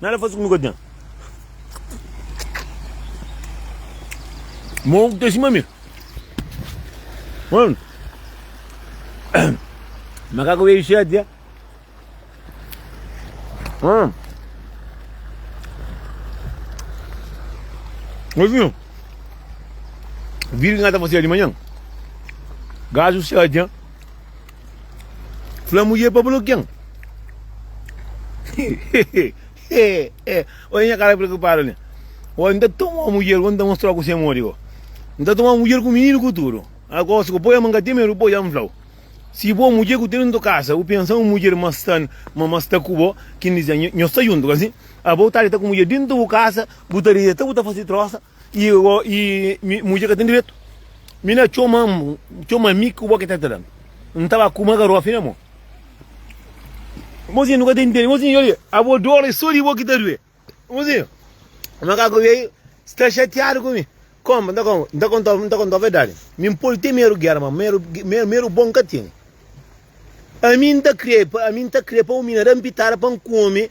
Nada fazi ku nu ka ten. Mon ku ta sima mi. Mano. Makaka wei shati ya. Hum. Ozinho. Vira que nós tá fazendo de manhã. Gajo shati ya. Fla mudjer pa blo ken? Oja nha kara preokupadu li. Oja, n ta toma mudjer go, n ta mostra-u ku se modi go. N ta toma mudjer ku mininu ku tudu. Ago, si bu poi-m, n ka ten medu poi-u, ja n fla-u. Si bo mudjer ku tene nto kasa, bu pensa un mudjer ma sta ma ma sta ku bo, kindizê, nho sta juntu, ka si? Abo ta deta ku mudjer dintu bu kasa, bu ta deta, bu ta fase trosa, Y o y mi mudjer ka ten diretu? Mi na txoma am txoma mi ku bo ki ta tran. N ta ba kuma garofi na mo. Mozinho nu ka ten tene. Mozinho yo li abo dor e so di bo ki ta due. Mozinho makaku vei sta xatiadu ku mi. Kom n ta kom n ta konta n ta konta verdadi. Mi n podi ten meru gera ma meru meru meru bo n ka tene. Ami n ta kre ami n ta kre pa un mina da n pitada pa n kome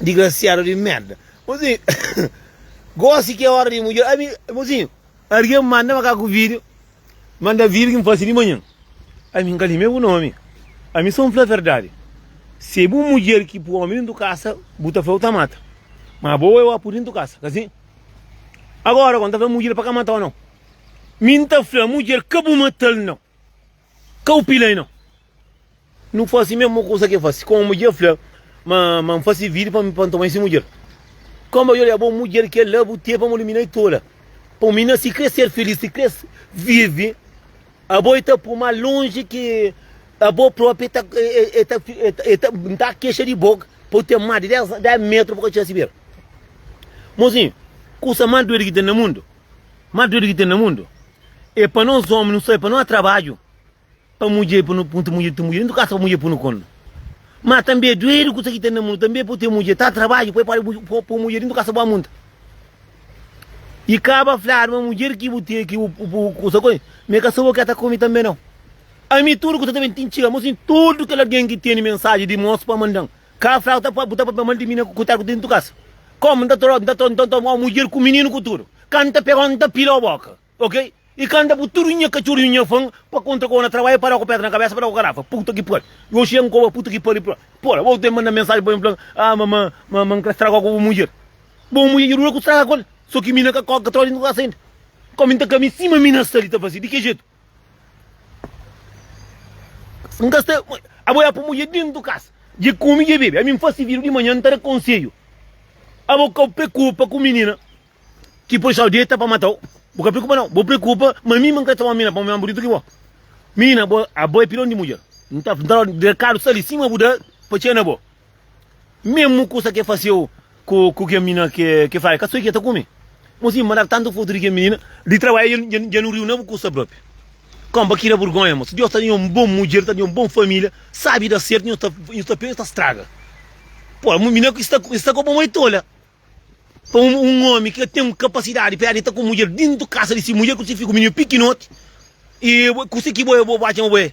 Digrasiadu di merda. Mozinho, gosi ki é ora di mudja. Ami, mozinho, argen manda-ma ka ku vídio. Manda vídio ki N fase di manhan. Ami, N ka lime bu nomi. Ami sô N fla verdadi. Si é bu mudjer ki pô ami dentu kasa, bu ta fla-u ta mata. Má bo wê-u apu dentu kasa, ka sin? Agora, kô N ta fla mudjer pa ka mata-u, nau? Mi N ta fla mudjer ka bu mata-l, nau. Kau pila i no. Nu fasi mesmu kusa ke fasi. Kuma mudjer fla ma ma N fasi vidi pa N toma i si mudjer. Kuma ba oja bo mudjer ke la bu teve amor mi na i tola. Pa un minina si kre ser filis, si kre vivi, abo i ta pui mas lonji ki abo propi ta e ta e ta N ta kexa di bo pa bu ten mas di dez dez metru bu ka txina si bera. Mozinhu, kusa mas doidu ki ten na mundu, mas doidu ki ten na mundu, É pa nos omi nu sabe pa nu a trabadju pa mudjer pa nu punta mudjer ti mudjer nu kasa pa mudjer punu konu ma tanbe é duedu kusa ki ten na munu tanbe po ten mudjer ta trabadju pa podi po mudjer di nu kasa bo munta i kaba fladu ma mudjer ki bu ten ki bu bu kusa ko me ka sa bo ke ta komi tanbe nau ami tudu kusa ta ben tin txiga mo sin tudu kel algen ki teni mensagem di mos pa mandan Ka flau ta pa bu ta papia mal di mina ku kutera ku ten tu kasa kom nta tro nta tro nta toma o mudjer ku mininu ku tudu ka nta pegau nta pila o boka ok i ka nta bu tudu nha kacurrinhu nha fan pa kontra ku o na trabalha pa da ku pedra na kabesa pa da ku karafa puta ki pari yo xen koba puta ki pari pla pora bo ten manda mensaji pa mi plan ah ma ma ma nkre stragau ku bu mudjer bo mudjer dja dura ku straga ku el so ki mina ka ko ka tro di nta kasa inda kom nta kami sima mina sta li ta fasi di ki jetu. Nka sta abo ya pun mudje dentu kas dje kume dje bebe ami nfasi vidu di manhan ntara konsedju abo kau prekupa ku minina ki poi sau deta pa matau bu ka prekupa nau bo prekupa ma mi ma nka ta un mina pa un mi mas bunitu ki bo minina abo abo ya pidon di mudjer nta nta rekadu sta li sima bu da pa txena bo. Memu kusa ke faseu ku ku kel minina ke ke fla el ka soi ke ta kume. Mo si mandadu tantu fotu di kel minina di trabadja dja dja dja nu riu na bu kusa propi. Koma pa kira burgonha mo si Deus ta dja un bon mudjer ta dja un bon familia sabi da sertu nhos ta nhos ta pega nhos ta straga. Pô mu minina sta ku sta ku bo mo e tola pa un un omi ke ten un kapasidadi pera di ta ku mudjer dintu kasa di si mudjer ku si fiju ku minina pikinoti i bo ku si ki bo e bo bo atxa ma bo e.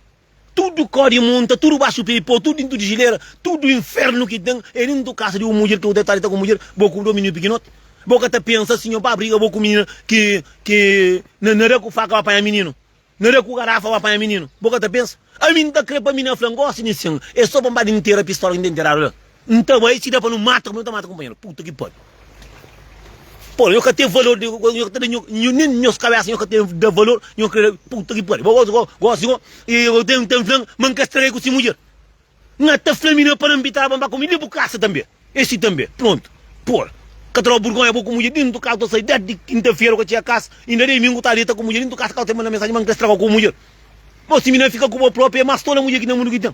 Tudu kó di monta, tudu baxu pé, y pô tudu dintu di jilera, tudu infernu ki ten é dintu kasa di un mudjer ki bu ta deitadu ta ku mudjer bo ku do mininu pikinoti. Bo ka ta pensa si nho ba briga bo ku minina ki ki na na da ku faka ba panha mininu, na da ku garafa ba panha mininu, bo ka ta pensa? Ami n ta kre pa mi na fla ngosi di nsin é so pa n ba dintera pistola ki n ta interadu la. N ta bai si da pa nu mata kuma nu ta mata kunpanheru. Puta ki pariu. Pô, nho ka ten valor, nho nho ka ta da nho, nho nen nhos kabesa nho ka ten da valor, nho kre puta ki pariu. Bo gosi ko gosi ko e bo ten ten flan ma N ka stragai ku si mudjer. N ata fla mi na pa na nbitaba N ba ku mi li bu kasa tanbe. E si tanbe. Prontu. Por ka ta daba burgonha bo ku mudjer dintu kasa ta sai desdi kinta-fera ku ka txiga kasa inda dei mi N ku ta deta ku mudjer dintu kasa ka bu ta manda mensaji ma N ka straga ku mudjer. Bo si mi na fika ku bo propi e mas tola mudjer ki ten na mundu ki ten.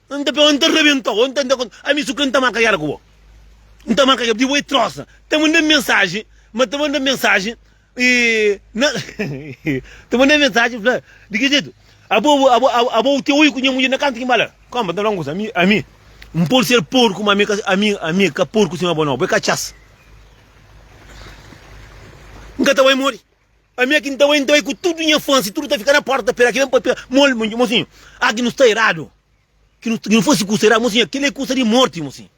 N ta pega-u, N ta rabenta-u, N ta da-u konta, ami su krê N ta marka géra ku bo, N ta marka géra, di bo e trosa ta manda-m mensaji ma ta manda-m mensaji e na ta manda-m mensaji fla di ki jetu abo abo abo abo abo u ten oi ku nha mudjer na kantu ki N ba la kónpra N ta fla-u un kuza ami ami N pode ser porku ma ami ka ami ami ka porku sima bo nau bo é katxas N ka ta bai modi. Ami aki n ta bai, n ta bai ku tudu nha fans, tudu ta fika na porta ta pera ki ben papia, mol, ma mosinhu, aki nu sta eradu, ki nu nu fasi kusa eradu, mosinha, kila é kusa di morti, mosinhu.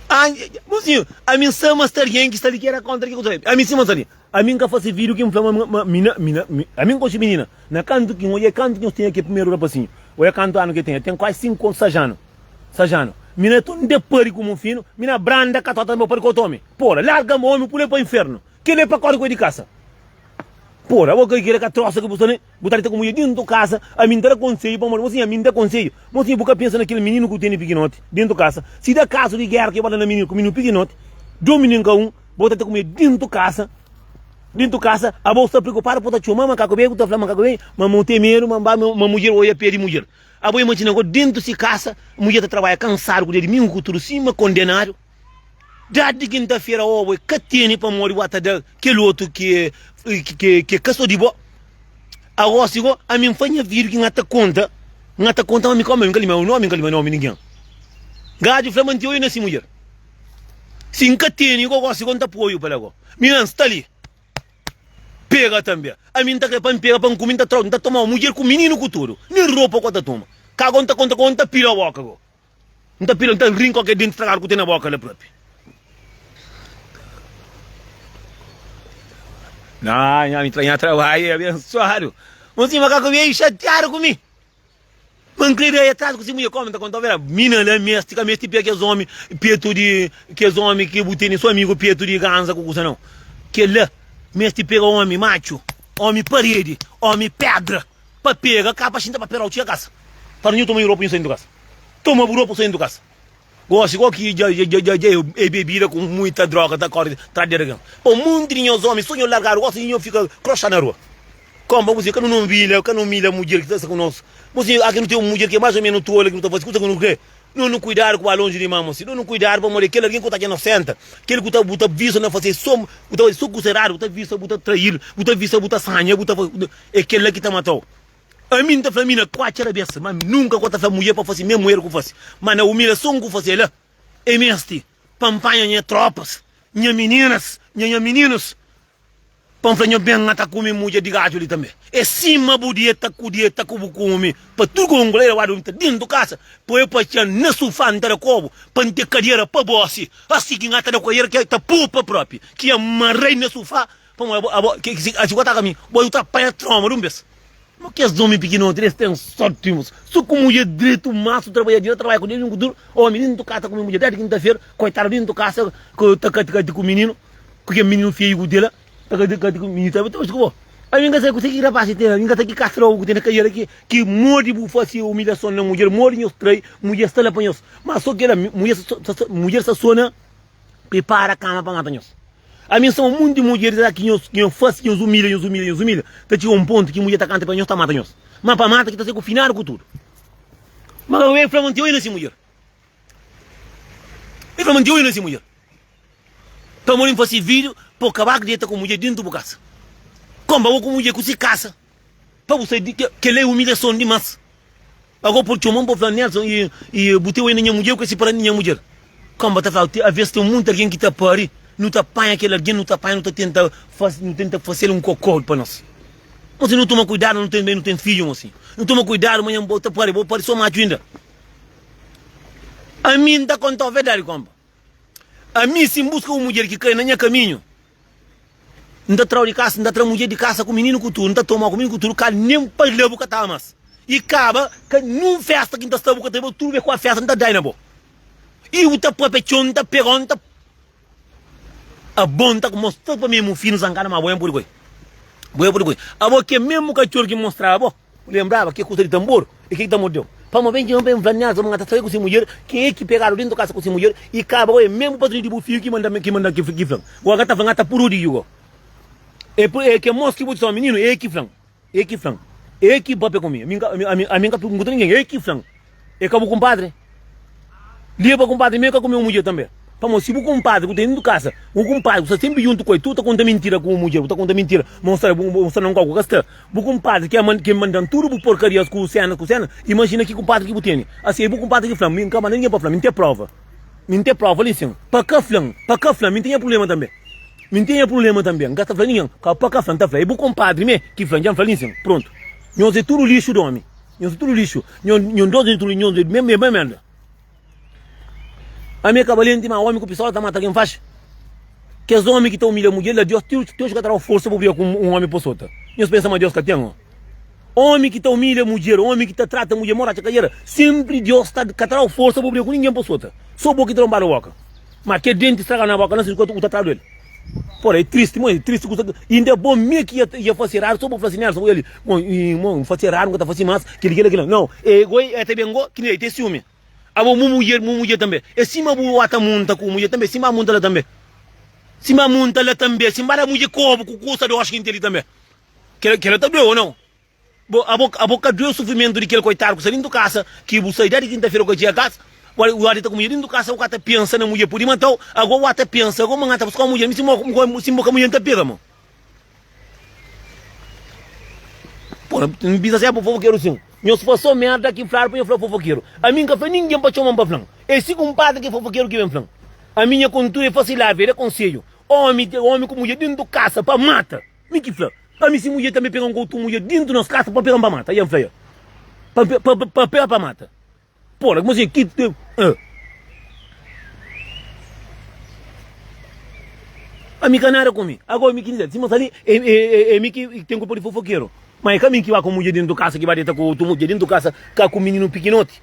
Ange, mosinhu, ami n sa ma sta algen ki sta li ki era kontra ki kusa li, ami sima n sa li, Ami N ka fase vidio ki N fla ma ma mi na mi na mi ami N konxe minina na kantu ki N oié kantu ki nhos tinha ke primeru rapasinhu oiá kantu anu ke ten el ten kuazi sinku anu sais anu sais anu mi na tun de pari ku mon finu mi na branda katota mi pari ku otu omi pola larga ma omi pula el pa infernu kila el pa kori ku el di kasa pola bo ka kila ka trosa ki bu sta ne. Bu ta deta ku mudjer dentu kasa? Ami N ta da konsedju pamodi bo siña mi N da konsedju. Bo siña bu ka pensa na kel mininu ku bu tene pikinoti dentu kasa? Si da kazu di gera ke bo da na mininu ku mininu pikinoti, domi nen ka un, bo ta deta ku mudjer dentu kasa? Dentu kasa, abo sta preokupadu pa bu ta txoma ma kaku bem, bu ta fla ma kaku bem, ma ma bu ten medu ma ba ma mudjer oja pe di mudjer. Abo imajina go dentu si kasa, mudjer ta tarbaja kansadu ku dia di mingu ku tudu sima kondenadu. Dadi di kintafera obu e ka tene pamodi bu a ta da kel otu ki e ka so di bo. A gosi go, ami N fla nha fidju ki N ta konta, N ta konta ma ami ka omi, ami ka limba nomi, N ka limba nomi ningen. Gaju fla ma N ti oiu na si mudjer. Si N ka tene go, gosi go N ta poiu pa la go. Mi na N sta li. Pega tanbe. Ami N ta kre pa N pega pa N kume, N ta tomau mudjer ku mininu ku tudu. Nen ropa ku ta toma. Ka go N ta konta ku N ta pila boka go. N ta pila, N ta rin ku kel denti stragadu ku ten na boka la propi. Nah, nha ami tra nha trabadju é abensuadu. Mon si makaku beiu xatiadu ku mi. Ma N kre da el atrasu ku si mudjer. Kómi N ta kontau vera? Mina la meste ka meste pia kes ómi petu di kes ómi ki bu tene so amigu petu di ganza ku kusa nau. Kel la meste pega ómi matxu, ómi paredi, ómi pedra. Pa pega ka pa xinta pa pera u txia kasa pa nhu toma nhu ropa nhu sai nhu kasa toma bu ropa u sai nhu kasa gosi kau ki dja dja dja dja e bebida ku muita droga ta kori tras di algen pa monti di nhos omi so nhu largadu gosi di nhu fika kroxa na rua kom pa bu si ka nu na umilha ka na umilha mudjer ki ta sta ku nos bu si aki nu ten un mudjer ki e mais ou menos tole ki nu ta fasi kusa ki nu kre Nos nu kuidadu ku ba lonji di mama si nos nu kuidadu pamodi kel algen ku ta atxa nos senta kel ku ta bu ta visa na fase so bu ta fase so ku seradu bu ta visa bu ta trail bu ta visa bu ta sanha bu ta fase e kel la ki ta matau ami nta fla mi na ku atxa rabesa ma ami nunka ku ta fla mujer pa fase mes mujer ku fase ma na umilason ku fase la e mesti pa npanha nha tropas nha meninas nha nha meninus Pa N fla, Nho ben, N ta kume mudjer di gadju li tanbe. É sima bu di, el ta ku di, el ta ku bu kume. Pa tudu kau ngula, el odu, N ta dentu kasa, poi pa txan na sufá, N ta da kobu, pa N ten kadiera pa gosi. Asi ki N ta da kadiera ki el ta popa propi, ki N marra-i na sufá, pamodi abo, abo, ki asi ki bu ataka mi, bo, N ta panha troma di un bes. Mo kes omi pikinoti es ten sorti mo so ku mudje dretu masu trabadjader trabadja ku djuntu ku tudu omi di djuntu kasa ku mi mudje djuntu kintafera koitadu di djuntu kasa ku ta kati kati ku mininu ku kel mininu feyu ku tela ta kati kati ku mininu ta omi skobo ami n ka sabe kusa ki rapaz ki ten ami n ka sabe ki kasa logu ku ten na kajera ki ki modi bu fase umilhason na mudjer modi nhos trai mudjer sta la pa nhos ma so kila mudjer sa sona. pripara kama pa mata nhos. Ami N sama monti mudjer la ki nhos ki nhos fase ki nhos umilha nhos umilha nhos umilha ta txiga un pontu ki mudjer ta kanta pa nhos ta mata nhos ma pa mata ki ta sai ku finadu ku tudu ma ka ben fla ma N tinha oi na si mudjer ben fla ma N tinha oi na si mudjer pamodi N fase video pa bu kaba ku deta ku mudjer dentu bu kasa komba bo ku mudjer ku si kasa. Pa bu sai di ke, kel la e umilhason dimas. Ago por txoman por fla, Nelson, e, e bu teu ainda nha mudjer ku e siparadu di nha mudjer? Kamba ta fla, te, aves ten munti algen ki ta pari, nu ta panha kel algen, nu ta panha, nu ta tenta fas, nu tenta fasel un kokodu pa nos. Ma si nu toma kuidadu, nu ten, ben, nu ten fidju ma si. Nu toma kuidadu ma nha mudj, bo ta pari, bo pari so matxu ainda. Ami N ta kontau verdadi, kamba. Ami si N buska un mudjer ki kai na nha kaminhu, N ta tra-u di kasa, N ta tra mudjer di kasa ku mininu ku tudu, N ta toma-u ku mininu ku tudu, Ka nen pâ-la bu ka ta ama-s i kaba Ka nen un festa ki N ta sta bu ka ta i bo Tudu be ku a festa N ta da-i na bo i bu ta pâpia txon N ta pega-u, N ta Abo N ta mostra-u pa mi Mu fidju, N san kada ma bo N pudi ku-i, bo N pudi ku-i Abo ki é mésmu katxor ki N mostra-ba bo. Bu lenbraba ke kusa di tanbor i ke ki ta mordeu? Pamo ben txeu ben planiadu sa bu mata saki ku si mudjer. Ken ki pegadu dentu kasa ku si mudjer i kaba gau? E menbu patruni di bu fiju ki manda mi ki manda ki flan. Gau nga ta fla, nga ta puru di ju gau. E pur e ke mos ki bu ta txoma mininu e ki flan, e ki flan, e ki pape ku mi. Ami ami ami ami nga ta purgunta ninguem, e ki flan. E ka bu kunpadri? Lia pa kunpadri meu ka ku meu mudjer tanbe. Pamodi si bu kunpadri ku ta indu kasa un kunpadri ku sta senpri juntu ku el, tu ta konta mintira ku bu mudjer, bu ta konta mintira mostra bu mostra na un kau ku ka sta. Bu kunpadri ke man ke mandan tudu bu porkarias ku senas ku senas, imajina ki kunpadri ki bu tene. Asi e bu kunpadri ki fla-m, mi N ka manda ningen pa fla-m, mi N ten prova. Mi N ten prova li sin. Pa ka fla-m, pa ka fla-m, mi N ten nha prulema tanbe. Mi N ten nha prulema tanbe, N ka ta fla ningen. Ka pa ka fla-m, ta fla e bu kunpadri me ki fla-m, dja N fla li sin. Prontu. Nhos e tudu lixu di omi. Nhos tudo lixo. Nhos dois é tudo nhos é bem bem bem merda. A minha cabalente mas homem que o pessoal está mata quem faz. Que os homens que estão humilha mulher da Deus Deus Deus que terá força para brigar com um homem por sota. Nhos pensa mas Deus que tem ó. Homem que está humilha mulher, homem que está trata mulher mora a cadeira. Sempre Deus está que terá força para brigar com ninguém por sota. Só boca que trombada boca. Ma kel denti straga na boka, na sirkua ku ta tradu el. Pora, e tristi mo, e tristi ku sa. Inda e bom mi ki ia fasi eradu so pa fla si Nelson ku el, Mo, mo, N fasi eradu, N ka ta fasi mas kili, kila, kila. Nau, e goi e ta ben go, kila, e ten siumi. Abo mu mudjer, mu mudjer tambe. E simba bu a ta munta ku mudjer tambe, simba a munta la tambe. Simba a munta la tambe, simbada mudjer kobu ku kusa doxi ki N ten li tambe. Kila, kila ta due, o nau? Bo, abo, abo ka due o sufrimentu di kel koitadu ku sta dintu kasa ki bu sai dadi kinta-fera kua dia kas wal wal di ta ku mudjer dintu kasa u ka ta pensa na mudjer pudi matau ago wal ta pensa ago mangan ta buska un mudjer mi si mo mo ko si mo ka mudjer nta pega mo bo n bisa se abo fofokeru sin nhos paso merda ki fladu pa nho fla fofokeru ami n ka fla ningen pa txoman pa flan es si kunpadri ki fofokeru ki ben flan ami nha kontudu e fasi lavi e da konsedju omi te omi ku mudjer dintu kasa pa mata. Mi ki fla, Ami si mudjer tanbe pega un otu mudjer dintu nos kasa, pa pega-m pa mata. I N fla el, Pa pega pa mata? Pô la, kmsi ki. Ami ka nada ku mi. Ago mi ki diz el, Sima sa li, e mi ki ten kulpa di fofokeru. Ma e ka mi ki ba ku mudjer dintu kasa, ki ba deta ku otu mudjer dintu kasa, ka ku mininu pikinoti.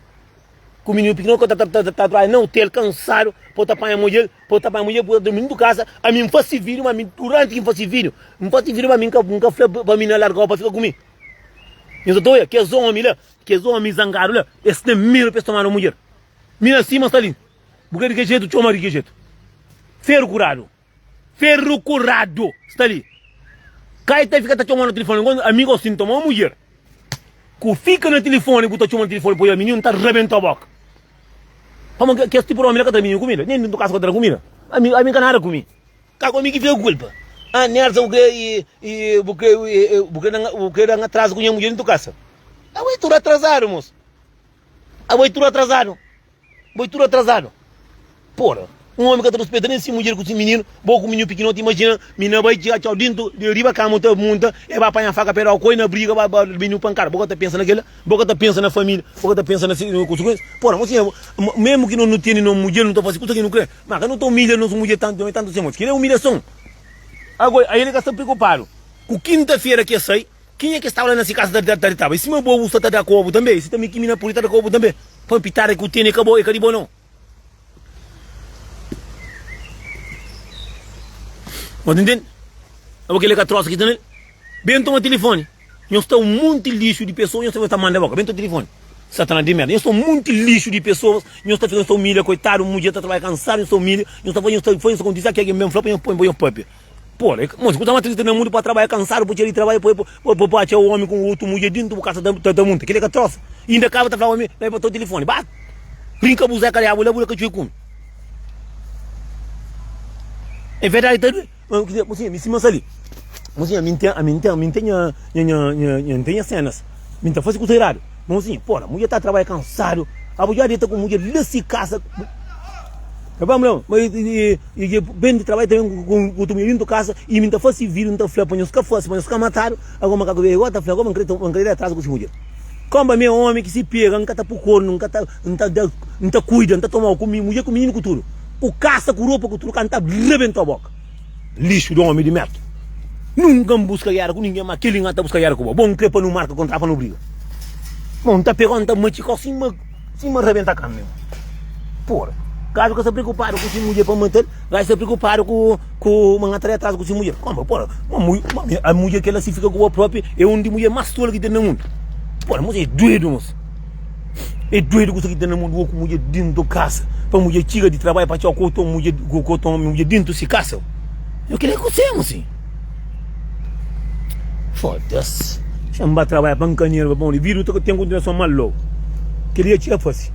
Ku mininu pikinoti ku ta traha na otel, kansadu, pa ta panha mudjer. Pa bu ta bai mudjer, bu ta durmi na bu kasa, ami N fasi fidju, ma ami duranti ki N fasi fidju, N fasi fidju ma ami N ka fla pa mina largau pa fika ku mi. Nhos ta ta oja kes omi la, kes omi zangadu la, es ten medu pa es tomadu mudjer. Mina sima sta li, bu ka di kel jetu, txoma di kel jetu. Feru kuradu, feru kuradu sta li. Kai ta fika ta txomau na tilifoni, ami gosi N tomau mudjer. Ku fika na tilifoni bu ta txoma na tilifoni poi la mininu ta rabenta boka pamo ke kes tipu di omi la ka tra mininu kumida nen dintu kasa ka tra kumida ami ami ka nada kumi ka ku ami ki fika kulpa ah nersa bu kre bu kre bu kre danga bu kre danga atrazu ku nha mudjer dintu kasa abo e tudu atrazadu mos abo e tudu atrazadu. Bo é tudu atrasadu. Pora. Un omi ka ta ruspeta nen si mudjer ku si mininu, bo ku mininu pikinoti imajina minina bai txia txau dintu di riba kama un ta munta el bai panha faka pedau koi na briga bai ba mininu pankada bo ka ta pensa na kela bo ka ta pensa na familia bo ka ta pensa na si konsikuensia pora nho siña mesmu ki no no tene no mudjer no ta fasi kusa ki no kre ma ka no ta umilha nos mudjer tantu txeu tantu siña moti kila é umilhason agora ael ka sta preokupadu ku kinta fera ke sai Kenha ki staba la na si kasa ta ritaba? I sima bo bu sta ta da kobu tanbe, si tanbe ki mi na pudi ta da kobu tanbe? Pa un pitada ki bu tene, e ka bo, e ka di bo no. Bo ta ntende? Abo kila ka trosa ki ta na li. Ben toma tilifoni. Nhos ta un monti lixu di pesoas, nhos ta fika ta manda boka. Ben toma tilifoni. Satanas di merda. Nhos ta un monti lixu di pesoas, nhos ta fika, nhos ta umilia koitadu un mudjer ta trabadja kansadu, nhos ta umilia, nhos ta fasi, nhos ta fasi nhos kontisi, ah ki algen ben fla pa nhos ponha pâpia. Pô, é monti ku ta mata li ta na mundu pa trabadja kansadu, pa txeu di trabadja, pa pa pa pa txeu omi ku un otu mudjer dintu bu kasa ta ta munta. Keli é ka trosa. I inda kaba ta fla omi pa e batau tilifoni. Ba rin ka abuzá ka da bu la bu da ka txue kumi. É verdadi ta due. Mo sinha mi sima sa li. Mo sinha mi ntém ami ntém ami ntém nha nha nha nha nha ntém nha senas. Mi ta fase kusa iradu. Monzinha, pô la, mudjer ta trabalha kansadu, abo dja deta ku mudjer la si kasa, ta fla ma, ma e dja ben di trabadja ta ben ku otu mudjer dintu kasa i mi n ta fase vidu, n ta fla pa nhos ka fase, pa nhos ka matadu, ago makaku ben ago ta fla, ago ma n krê da atrazu ku si mudjer. Kanba mi é ómi ki si pega, n ka ta pui kornu, n ka ta, n ta da, n ta kuida, n ta tomau ku mi mudjer, ku mininu, ku tudu, ku kasa, ku ropa, ku tudu, ka n ta rebenta-u boka. Lixu di omi di merda. Nunka N buska gera ku ningen, ma kel-li N ta buska gera ku bo. Bo N kre pa nu marka kontratu pa nu briga. Bo N ta pega-u, N ta matxika-u sima sima rabenta karni. Pura. Gajo ka sta preokupadu ku si mudjer pa N mata-l, gajo sta preokupadu ku ku ma N atrai atrazu ku si mudjer. Kuma? Pura. Ma mu mudjer kel-la si fika ku bo propi, e un di mudjer mas tolu ki ten na mundu. Pura, moça é duedu, moça. É doido kusa ki ten na mon di oku mudjer dintu kasa pa mudjer txiga di trabalhu pa txau ku otu mudjer ku otu omi mudjer dintu si kasa io kila ku semu si fodas xan ba trabalha pa nka nerva pa un di vida ten kontinuason mal lo kila txia fasi.